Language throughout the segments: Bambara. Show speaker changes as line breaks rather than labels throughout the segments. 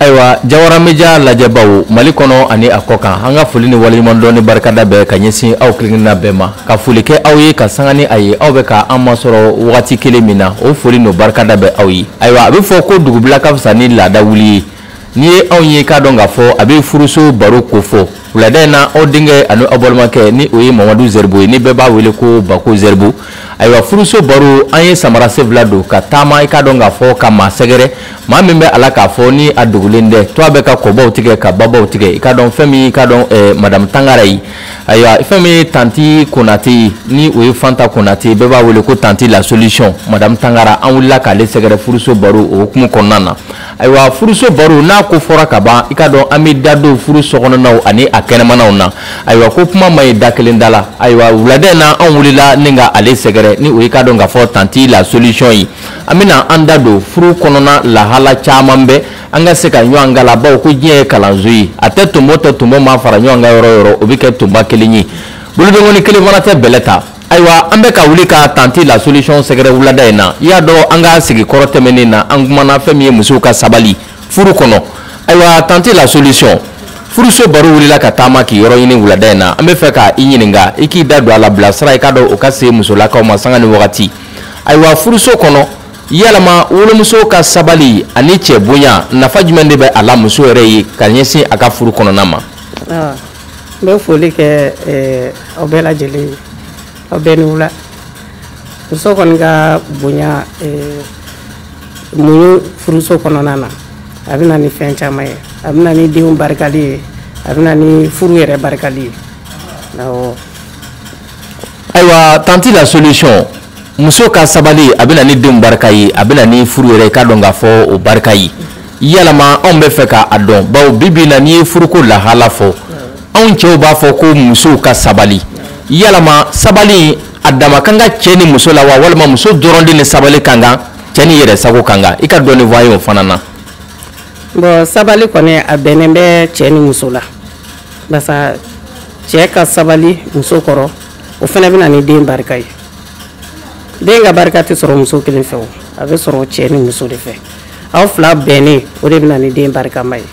ayiwa jawara media lajɛbaw mali kɔnɔ ani a kɔ kan an ka foli ni waleɲuman dɔn ni barikada bɛ ka ɲɛsin aw kelenkelenna bɛɛ ma ka foli kɛ aw ye ka sanga ni a ye aw bɛ ka an masɔrɔ wagati kelen min na o foli n'o barikada bɛ aw ye ayiwa a bɛ fɔ ko dugubila ka fisa ni laada wuli ye n'i ye anw ye k'a dɔn k'a fɔ a bɛ furuso baro kofɔ wulada in na aw denkɛ ani aw balimakɛ ni o ye mamadu zɛribo ye ni bɛɛ b'a wele ko bako zɛribo ayiwa furuso baro an ye samara sen fila don ka taama i k'a dɔn k'a fɔ ka maa sɛgɛrɛ maa min bɛ a la k'a fɔ ni a dogolen tɛ tɔgɔ bɛ ka kɔbaw tigɛ ka babaw tigɛ i k'a dɔn fɛn min i k'a dɔn eh, madamu tangara ye ayiwa fɛn min ye tanti konate ye ni o ye fanta konate ye bɛɛ b'a wele ko tanti la solution madamu tangara an wulila k'ale sɛgɛrɛ furuso baro o hukumu kɔnɔna na ayiwa furuso baro n'a ko fɔra ka ban i k'a dɔn an bɛ da don furu sokɔnɔnaw ani a kɛnɛmanaw na ayiwa ko kuma man ɲi da kelen da la ayiwa wulada in na an wulila ni ka ale sɛgɛrɛ ni o ye k'a dɔn k'a fɔ tanti la solution ye an bɛna an da don furu kɔnɔna lahala caman bɛ an ka se ka ɲɔgɔn kalan bawo ko diɲɛ ye kalanso ye a tɛ tonbo tɛ tonbo ma fara ɲɔgɔn kan yɔrɔ o yɔrɔ o bɛ kɛ tonba kelen ye bolodenkɔni kelen fana tɛ bɛlɛ ta ayiwa an bɛ ka wuli ka tanti la solution sɛgɛrɛ wulada in na i y'a dɔn an ka sigi kɔrɔ tɛmɛnen na an kumana fɛn min ye musow ka sabali furu kɔnɔ ayiwa tanti la solution furuso baro wulila ka taama k'i yɔrɔ ɲini wulada in na an bɛ fɛ ka i ɲininka i k'i da don a la bilasira i k'a dɔn o ka se musolakaw ma sanga ni wagati ayiwa furuso kɔnɔ yalama wolomuso ka sabali ani cɛ bonya nafa jumɛn de bɛ a la muso yɛrɛ ye ka ɲɛsin a ka furu kɔnɔna ma ah.
n bɛ foli kɛ eh, aw bɛɛ lajɛlen ye aw bɛɛ ni wula muso kɔni ka bonya eh, muɲu furuso kɔnɔna na a bɛ na ni fɛn caman ye a bɛ na ni denw barikali ye a bɛ na ni furu yɛrɛ barikali ye awɔ
ayiwa tanti la solution muso ka sabali a bɛ na ni denw barika ye a bɛ na ni furu yɛrɛ i k'a dɔn k'a fɔ o barika ye yalama anw bɛ fɛ k'a dɔn bawo bi bi in na n'i ye furuko lahala fɔ anw cɛw b'a fɔ ko musow ka sabali yalama sabali a dama ka kan cɛ ni muso la wa walima muso dɔrɔn de ni sabali ka kan cɛ ni yɛrɛ sago ka kan i ka dɔɔni fɔ an ye o fana na. bon
sabali kɔni a bɛnnen bɛ cɛ ni muso la. basa cɛ ka sabali muso kɔrɔ o fana bɛ na ni den barika ye den ka barika tɛ sɔrɔ muso kelen fɛ o a bɛ sɔrɔ cɛ ni muso de fɛ aw fila bɛnnen o de bɛ na ni den barikama ye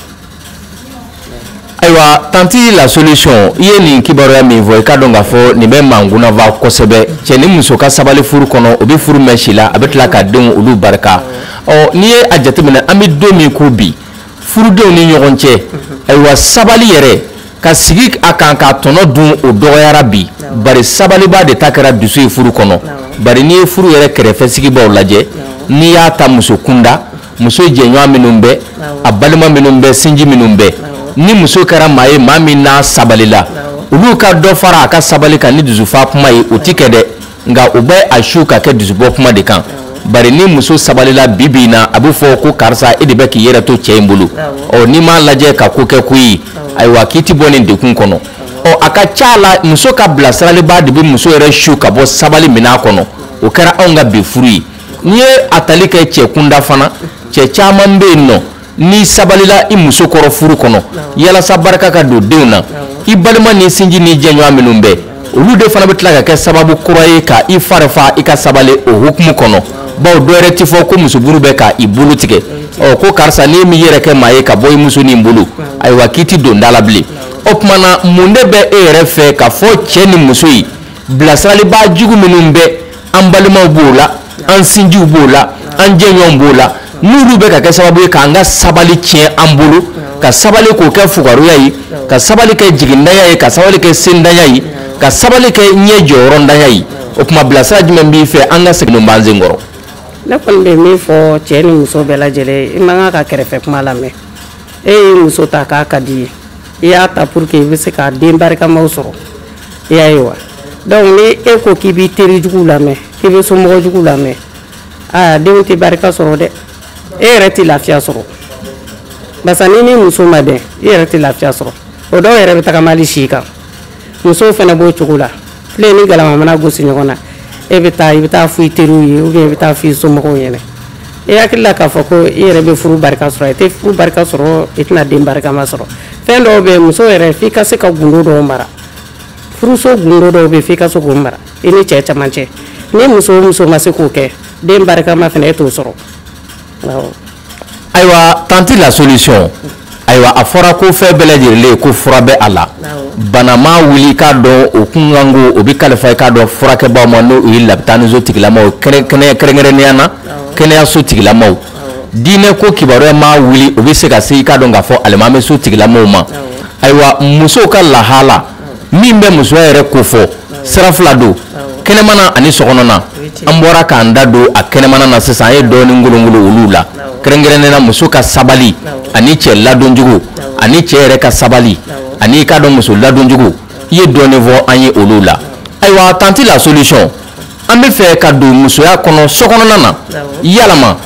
ayiwa tanti la solution i ye nin kibaruya min fɔ i k'a dɔn k'a fɔ nin bɛ mɔgɔw nafa kosɛbɛ cɛ ni muso ka sabali furu kɔnɔ o bɛ furu mɛɛn si la a bɛ tila ka denw olu barika ɔ n'i ye a jateminɛ an bɛ don min ko bi furudenw ni ɲɔgɔn cɛ ayiwa sabali yɛrɛ ka sigi a kan k'a tɔnɔ dun o dɔgɔyara bi bari sabalibaa de ta kɛra dusu ye furu kɔnɔ bari n'i ye furu yɛrɛ kɛrɛfɛ sigibaaw lajɛ n'i y'a ta muso kunda muso jɛɲɔgɔn minnu bɛ a balima minnu bɛ sinji minnu bɛ ni muso kɛra maa ye maa min n'a sabalila olu ka dɔ fara a ka sabali kan ni dusufa kuma ye o ti kɛ dɛ nka u bɛ a su ka kɛ dusubɔ kuma de kan bari ni muso sabalila bi bi in na a bɛ fɔ ko karisa e de bɛ k'i yɛrɛ to cɛ in bolo ɔ n'i m'a lajɛ ka ko kɛ ko ye ayiwa k'i ti bɔ nin degun kɔnɔ ɔ a ka ca a la muso ka bilasiralibaa de bɛ muso yɛrɛ su ka bɔ sabali minɛn kɔnɔ o kɛra anw ka bi furu ye n'i ye a tali kɛ cɛ kunda fana cɛ caman bɛ yen nɔ n'i sabalila i muso kɔrɔ furu kɔnɔ yalasa barika ka don denw na i balima n'i sinji n'i jɛɲɔgɔn minnu bɛ olu de fana bɛ tila ka kɛ sababu kura ye ka i fari fa i ka sabali o hukumu kɔnɔ bawo dɔ yɛrɛ ti fɔ ko muso muru bɛ ka i bolo tigɛ ɔ ko karisa n'i m'i yɛrɛ kɛ maa ye ka bɔ i muso nin bolo ayiwa k'i ti don da la bilen o tuma na mun de bɛ e yɛrɛ fɛ k'a fɔ cɛ ni muso ye bilasiralibaa jugu minnu bɛ an balimaw b'o la an sinjiw b'o la an jɛɲɔgɔn b'o la n'olu bɛ ka kɛ sababu ye k'an ka sabali tiɲɛ an bolo ka sabali k'o kɛ fugaruya ye ka sabali kɛ jigintanya ye ka sabali kɛ sentanya ye ka sabali kɛ ɲɛ jɔyɔrɔntanya ye o tuma bilasira jumɛn b'i fɛ an ka segin b'an sen kɔrɔ ne kɔni
bɛ min fɔ cɛ ni muso bɛɛ lajɛlen i man kan ka kɛrɛfɛ kuma lamɛn e ye muso ta k'a ka di i ye i y'a ta pour que i bɛ se ka den barikamaw sɔrɔ i y'a ye wa donc ni e ko k'i b'i teri jugu lamɛn k'i bɛ somɔgɔ jugu lamɛn aa denw tɛ barika sɔrɔ dɛ e yɛrɛ tɛ lafiya sɔrɔ barisa n'i ni muso ma bɛn i yɛrɛ tɛ lafiya sɔrɔ o dɔw yɛrɛ bɛ tagama hali si kan musow fana b'o cogo la filen ni galama mana gosi ɲɔgɔn na e bɛ taa i bɛ taa fɔ i teriw ye ou bien i bɛ taa fɔ i somɔgɔw ɲɛna i hakili la k'a fɔ ko i yɛrɛ bɛ furu barika sɔrɔ i tɛ furu barika sɔrɔ i tɛna den barikama sɔrɔ fɛn dɔw bɛ muso yɛrɛ f'i ka se ka gundo dɔw mara furuso gundo dɔw bɛ f'i ka se k'o mara i ni cɛ dama cɛ ni muso o muso ma se k'o kɛ den barikama fana e t'o sɔrɔ ayiwa
tanti la solution ayiwa a fɔra ko fɛn bɛɛ lajɛlen ko fura bɛ a la bana ma wuli k'a dɔn o kunkanko o bɛ kalifa i k'a dɔn furakɛbaaw ma n'o ye labitaniso tigilamaw kɛrɛnkɛrɛnnenya na kɛnɛyaso tigilamaw diinɛ ko kibaruya ma wuli o bɛ se ka se i k'a dɔn k'a fɔ alimami so tigilamaw ma ayiwa musow ka lahala min bɛ musoya yɛrɛ kofɔ sira fila don kɛnɛmana ani sokɔnɔna an bɔra k'an da don a kɛnɛmana na sisan an ye dɔɔnin ngolongolo olu la kɛrɛnkɛrɛnnen na muso ka sabali ani cɛ ladonjugu ani cɛ yɛrɛ ka sabali ani i k'a dɔn muso ladonjugu i ye dɔɔnin fɔ an ye olu la ayiwa tanti la solution an bɛ fɛ k'a dɔn musoya kɔnɔ sokɔnɔna na yalama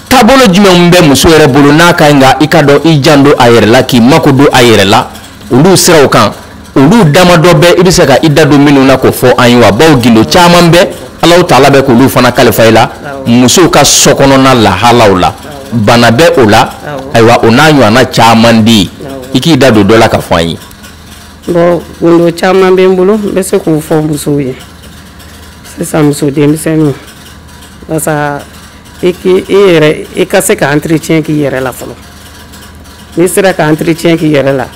taabolo jumɛnw bɛ muso yɛrɛ bolo n'a ka ɲi ka i ka dɔn i jan don a yɛrɛ la k'i mako don a yɛrɛ la olu siraw kan olu damadɔ bɛ i bɛ se ka i da don minnu na k'o fɔ an ye wa bawo gundo caman bɛ Alahu taala bɛ k'olu fana kalifa i la musow ka sokɔnɔna lahalaw la bana bɛ o la ayiwa o n'a ɲɔgɔnna caman de ye i k'i da don dɔ la ka fɔ an ye. bɔn gundo
caman bɛ n bolo n bɛ se k'o fɔ musow ye. sisan muso denmisɛnninw walasa e k'i e yɛrɛ i ka se ka entretien k'i yɛrɛ la fɔlɔ n'i sera ka entretien k'i yɛrɛ la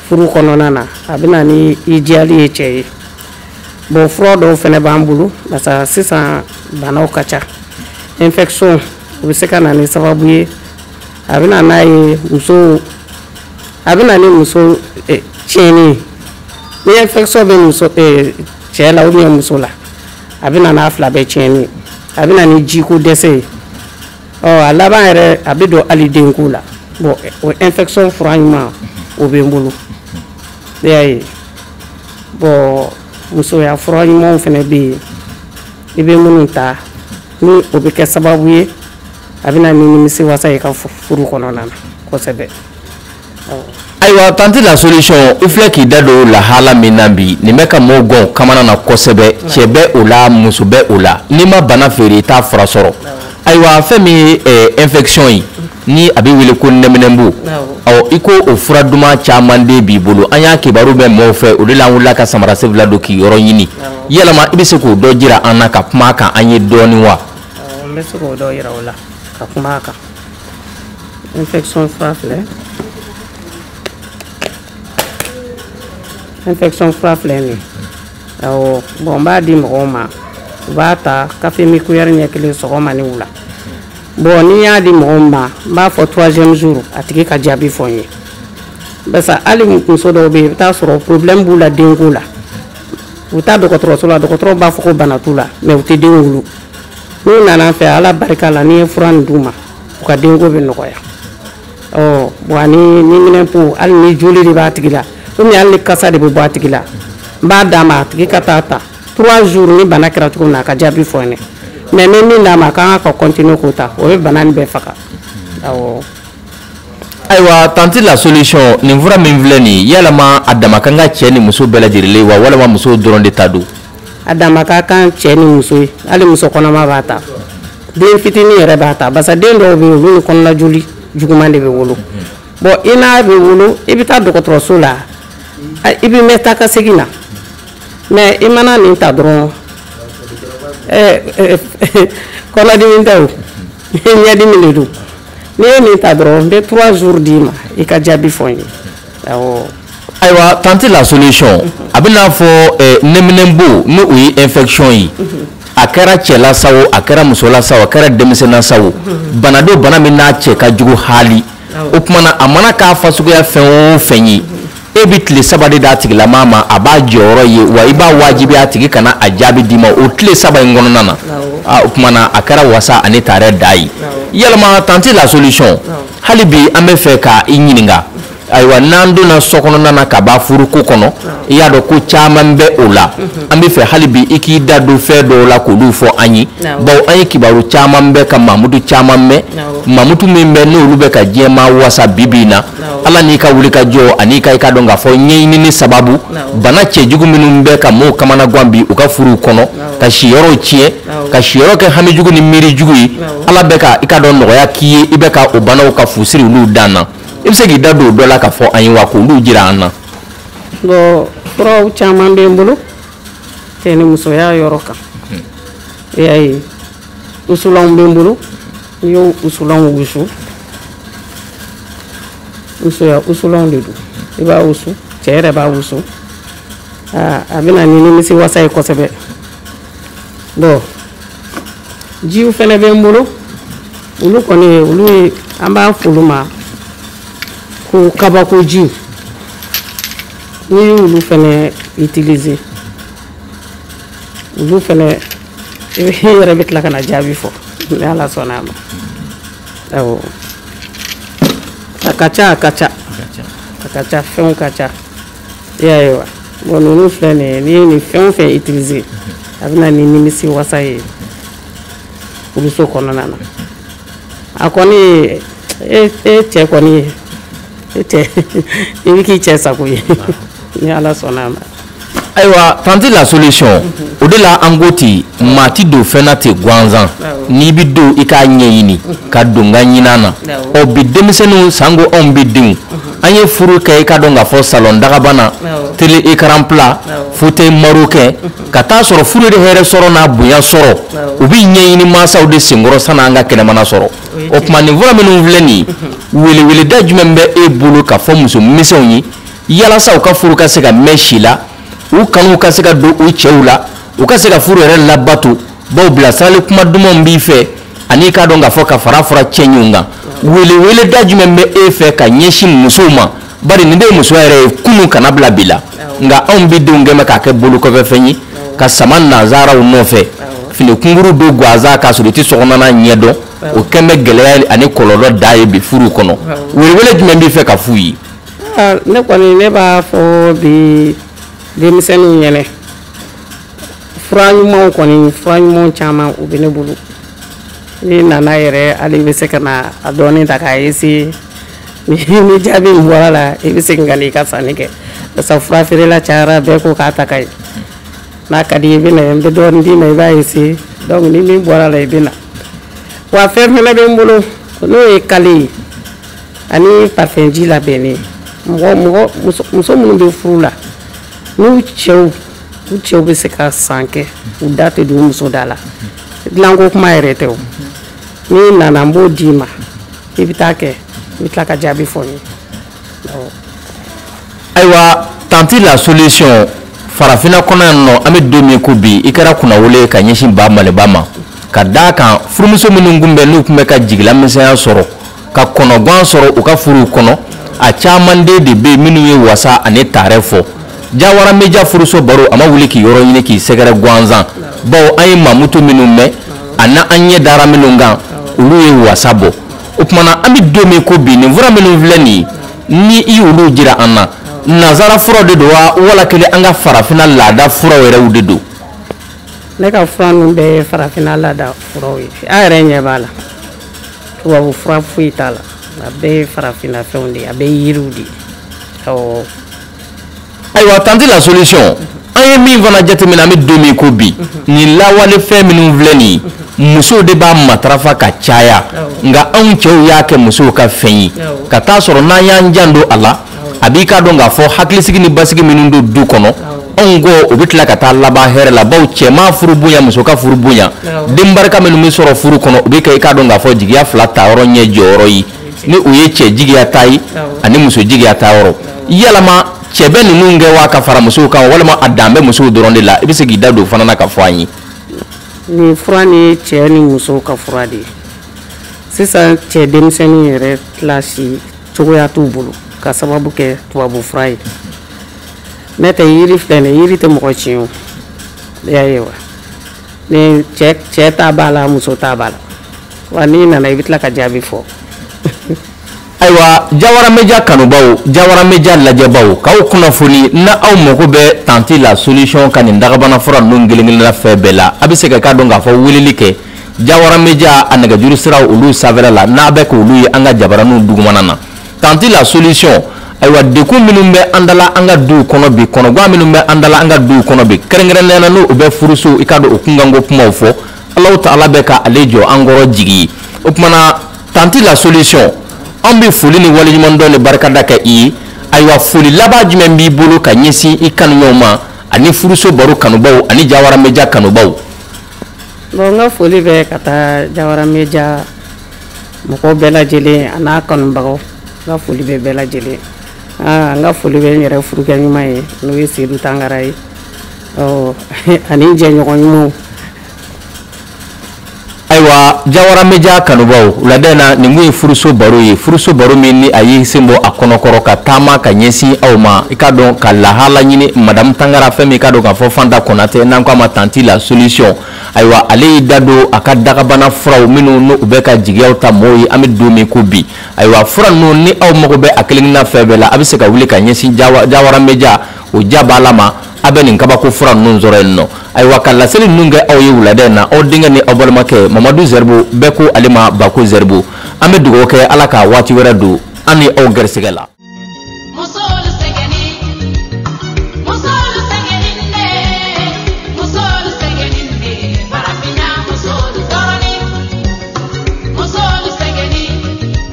furu kɔnɔna na a bɛ na ni i diyali ye cɛ ye bon fura dɔw fɛnɛ b'an bolo barisa sisan banaw ka ca infection o bɛ se ka na ni sababu ye a bɛ na n'a ye muso a bɛ na ni muso eh, tiɲɛni ye ni infection bɛ muso eh, cɛ la ou bien muso la a bɛ na n'a fila bɛɛ tiɲɛni ye a bɛ na ni jiko dɛsɛ ye ɔ a laban yɛrɛ a bɛ don hali denko la bɔn o infection fura ɲuman o bɛ n bolo i y'a ye bɔn musoya fura ɲumanw fɛnɛ bɛ yen i bɛ minnu ta ni o bɛ kɛ sababu ye a bɛ na ni nimisiwasa ye ka furu kɔnɔna na kosɛbɛ.
ayiwa tante la solution i filɛ k'i da don lahala min na bi nin bɛ ka mɔgɔw kamanagan kosɛbɛ cɛ bɛ o la muso bɛ o la n'i ma bana feere i t'a fura sɔrɔ ayiwa fɛn min ye eh, infection ye ni a bɛ wele ko nɛminɛnpo ɔ i ko o fura duman caman de b'i bolo an y'a kibaru mɛn mɔɔw fɛ o de la an wulila ka samarasen fila don k'i yɔrɔ ɲini yalama i bɛ se k'o dɔ jira an na ka kuma a kan an ye dɔɔnin wa n bɛ se k'o
dɔ yira o la ka kuma a kan infection fura filɛ infection fura filɛ nin ye awɔ bɔn n b'a di mɔgɔw ma u b'a ta kafemin kuyɛri ɲɛ kelen sɔgɔma ni wula bɔn ni n y'a di mɔgɔw ma n b'a fɔ troisième jour a tigi ka jaabi fɔ n ye barisa hali muso dɔw bɛ yen i bɛ taa sɔrɔ problème b'u la denko la u taa dɔgɔtɔrɔso la dɔgɔtɔrɔw b'a fɔ ko bana t'u la mais u tɛ den wolo n'u nana n fɛ ala barika la ni n ye fura nin d'u ma u ka denko bɛ nɔgɔya bon ani nɛminɛnpo hali ni joli de b'a tigi la ou bien hali ni kasa de bɛ bɔ a tigi la n b'a d'a ma a tigi ka taa ta trois jours ni bana kɛra cogo min na a ka jaabi fɔ n ye mais n bɛ min d'a ma a kan ka ka continuer k'o ta o bɛ bana nin bɛɛ faga awɔ
ayiwa tante la solution nin fura min filɛ nin yalama a dama ka kan ka cɛ ni muso bɛɛ lajɛlen wa walama muso dɔrɔn de ta don a dama ka
kan cɛ ni muso ye hali muso kɔnɔma b'a ta den fitini yɛrɛ b'a ta barisa den dɔw bɛ yen olu ni kɔnɔna joli juguman de bɛ wolo bɔn i n'a bɛ wolo i bɛ taa dɔgɔtɔrɔso la i bɛ mɛn taa ka segin na mɛ i mana nin ta dɔrɔn kɔnɔdimi tɛ o ɲɛdimi de don n'i ye nin ta dɔrɔn n bɛ trois jours d'i ma i ka jaabi fɔ n ye awɔ. ayiwa
tante la solution a bɛ n'a fɔ eh, nɛminɛnbo ni o ye infection ye a kɛra cɛ la sa o a kɛra muso la sa o a kɛra denmisɛn na sa o bana don bana min n'a cɛ ka jugu haali o tuma na a mana k'a fasuguya fɛn o fɛn ye. e bɛ tile saba de d'a tigilama ma a b'a jɔyɔrɔ ye wa i b'a wajibiya a tigi ka na a jaabi d'i ma o tile saba in kɔnɔna na ah, o tuma na a kɛra wasa ani taarɛ dan ye yalama tante la solution hali bi an bɛ fɛ ka i ɲininka ayiwa n'an donna so kɔnɔna na ka b'a furuko kɔnɔ i y'a dɔn ko caman bɛ o la mhm. an bɛ fɛ hali bi i k'i da don fɛn dɔw la k'olu fɔ an ye bawo an ye kibaru caman mɛn ka mankutu caman mɛn mankutu min bɛ n'olu bɛ ka diɲɛmaa wasa bi bi in na ala n'i ka wulikajɔ ani i ka i ka dɔn k'a fɔ ɲɛɲinini sababu bana cɛ jugu minnu bɛ ka mɔɔw kamana gan bi u ka furuw kɔnɔ ka siyɔrɔw tiɲɛ ka siyɔrɔ kɛ hami jugu ni miiri jugu ye ala bɛ ka i ka dɔn nɔgɔya k'i ye i bɛ ka o banaw ka fu siri olu dan na i bɛ se k'i da don o dɔ la k'a fɔ an ye wa k'olu jira an na
bɔn furaw caman bɛ n bolo cɛ ni musoya yɔrɔ kan i y'a ye wusulanw bɛ n bolo n'i y'o wusulanw wusu musoya wusulanw de don i b'a wusu cɛ yɛrɛ b'a wusu aa a bɛ na ni nimisiwasa ye kosɛbɛ bɔn jiw fɛnɛ bɛ n bolo olu kɔni olu ye an b'a f'olu ma ko kabako jiw n'i y'olu fɛnɛ utiliser olu fɛnɛ i yɛrɛ bɛ tila ka na jaabi fɔ ni ala sɔnna a ma awɔ a ka ca a ka ca a ka ca fɛnw ka ca i y'a ye wa bɔn ninnu filɛ nin ye n'i ye nin fɛn o fɛn utiliser a bɛ na ni nimisiwasa ye furuso kɔnɔna na a kɔni e cɛ kɔni i bɛ k'i cɛ sago ye ni ala sɔnna a ma ayiwa
tanti la solution o de la an ko ten maa ti don fɛn na ten gansan n'i bi don i k'a ɲɛɲini ka don n ka ɲinan na ɔ bi denmisɛnninw sanko anw bi denw an ye furu kɛ i k'a dɔn k'a fɔ salon dagabana télé écran plat fauteuil marocain ka t'a sɔrɔ furu de hɛrɛ sɔrɔ n'a bonya sɔrɔ o bɛ ɲɛɲini mansaw de senkɔrɔ san'an ka kɛnɛmana sɔrɔ o tuma nin fura minnu filɛ nin ye weleweeleda jumɛn bɛ e bolo ka fɔ muso misɛnw ye yalasa u ka furu ka se ka mɛn si la u kanu ka se ka don u cɛw la u ka se ka furu yɛrɛ labato bawo bilasirali kuma dumanw b'i fɛ ani k'a dɔn k'a fɔ ka fara fara cɛɲɛw kan weleweleda jumɛn bɛ e fɛ ka ɲɛsin musow ma bari nin de ye musoya yɛrɛ ye kunun kana bila bi la nka anw bi denw kɛn bɛ k'a kɛ bolokɔfɛfɛn ye ka sama nanzaraw nɔfɛ fini kunkurun don gansan k'a sɔrɔ i tɛ sokɔnɔna ɲɛ dɔn o kɛn bɛ gɛlɛya ani kɔlɔlɔ da ye bi furu kɔnɔ welewele jumɛn b'i fɛ ka f'u ye Ah, ne
kɔni ne b'a fɔ bi denmisɛnninw ɲɛnɛ fura ɲumanw kɔni fura ɲumanw caman u bɛ ne bolo n'i nana yɛrɛ hali i bɛ se ka na a dɔɔni ta k'a essayer ni jaabi min bɔra a la i bɛ segin ka na i ka sanni kɛ barisa fura feerela cayara bɛɛ ko k'a ta ka ɲi n'a ka di i bɛ na n bɛ dɔɔni d'i ma i b'a essayer donc ni min bɔra a la i bɛ na wa fɛn fɛnɛ bɛ n bolo n'o ye kale ye ani parfum ji labɛnnen mɔgɔ mɔgɔ muso minnu bɛ furu la n'u cɛw u cɛw bɛ se ka san kɛ u da tɛ don muso da la dilanko kuma yɛrɛ tɛ o n'i nana n b'o d'i ma i bɛ taa kɛ i bɛ tila ka jaabi fɔ n ye
ayiwa tanti la solution farafina kɔnɔ yan nɔ an bɛ don min ko bi i kɛra kunnawolo ka ɲɛsin ba maliba ma ka d'a kan furumuso minnu tun bɛ n'u tun bɛ ka jigilamisɛnya sɔrɔ ka kɔnɔgan sɔrɔ u ka furuw kɔnɔ a caman de bɛ yen minnu ye wasa ani taarɛ fɔ jawara media furuso baro a ma wuli k'i yɔrɔ ɲini k'i sɛgɛrɛ gansan bawo an ye mankutu minnu mɛn ani an ɲɛ dara minnu kan olu ye wasa bɔ o tuma na an bɛ don min ko bi nin fura minnu filɛ nin ye ni i y'olu jira an na nazara furaw de don wa wala kelen an ka farafina laada furaw yɛrɛw de don ne ka
fura ninnu bɛɛ ye farafina laada furaw ye a yɛrɛ ɲɛ b'a la tubabu fura foyi t'a la a bɛɛ ye farafina fɛnw de ye a bɛɛ ye yiriw de ye awɔ
ayiwa tanti la solution an ye min fana jateminɛ an bɛ don min ko bi nin lawale fɛn minnu filɛ nin musow de b'a matarafa ka caya nka anw cɛw y'a kɛ musow ka fɛn ye ka t'a sɔrɔ n'an y'an janto a la a b'i k'a dɔn k'a fɔ hakilisigi ni basigi minnu don du kɔnɔ anw ko o bɛ tila ka taa laban hɛrɛ la bawo cɛman furu bonya muso ka furu bonya den barika minnu bɛ sɔrɔ furu kɔnɔ o bɛ kɛ i k'a dɔn k'a fɔ jigiya fila ta yɔrɔ ɲɛ jɔyɔrɔ ye ni o ye cɛ jigiya ta ye ani muso jigiya ta yɔrɔ yalama cɛ bɛ ninnu kɛ wa ka fara musow kan walima a dan bɛ musow dɔrɔn de la i bɛ se k'i da don fana na ka fɔ an ye nin
fura nin ye cɛ ni musow ka fura de ye sisan cɛ denmisɛnninw yɛrɛ kilasi cogoya t'u bolo ka sababu kɛ tubabu fura ye ne tɛ yiri filɛ nin yiri tɛ mɔgɔ tiɲɛ o y'a ye wa ni cɛ cɛ ta b'a la muso ta b'a la wa n'i nana i bɛ tila ka jaabi fɔ
ayiwa jawara media kanubaw jawara media lajɛbaw k'aw kunnafoni n'aw mago bɛ tanti la solution ka nin dagabana fura ninnu kelen-kelenna fɛn bɛɛ la a bɛ se ka i k'a dɔn k'a fɔ weleli kɛ jawara media a nɛgɛjuru siraw olu sanfɛla la n'a bɛ k'olu ye an ka jabaraninw dugumana na tanti la solution ayiwa degun minnu bɛ an dala an ka duw kɔnɔ bi kɔnɔgan minnu bɛ an dala an ka duw kɔnɔ bi kɛrɛnkɛrɛnnenya na n'o bɛ furusow i k'a dɔn o kunkanko kumaw fɔ alahu taala bɛ ka ale jɔ an kɔrɔ jigi o tuma na tanti la solution an bɛ foli ni waleɲumandɔn ni barikada kɛ i ye ayiwa foli laban jumɛn b'i bolo ka ɲɛsin i kanuɲɔgɔnw ma ani furuso baro kanubaw ani jawara media
kanubaw bon n ka foli bɛ ka taa jawara media mɔgɔw bɛɛ lajɛlen a n'a kanubagaw n ka foli bɛ bɛɛ lajɛlen n ka foli bɛ n yɛrɛ furukɛ ɲuman ye n'o ye sedu tangara ye ani jɛɲɔgɔn
ɲumanw ayiwa jawara media kanubaw wulada in na nin kun ye furuso baro ye furuso baro min ni a y'i sen bɔ a kɔnɔkɔrɔ ka taama ka ɲɛsin aw ma i k'a dɔn ka lahala ɲini madamu tangara fɛ min k'a dɔn k'a fɔ fanta konatɛ n'an k'a ma tanti la solution ayiwa ale y'i da don a ka dagabana furaw minnu n'u bɛ ka jigiyaw ta mɔɔw ye an bɛ don min ko bi ayiwa fura ninnu ni aw mago bɛ a kelenkelenna fɛn bɛɛ la a bɛ se ka wuli ka ɲɛsin jawara media o ja b'a la ma a bɛ nin kabako fura ninnu sɔrɔ yen nɔ ayiwa ka laseli ninnu kɛ aw ye wulada in na aw denkɛ ni aw balimakɛ mamadu zɛribo bɛɛ ko ale ma bako zɛribo an bɛ dugawu kɛ ala ka waati wɛrɛ don an ni aw gɛrisigɛ la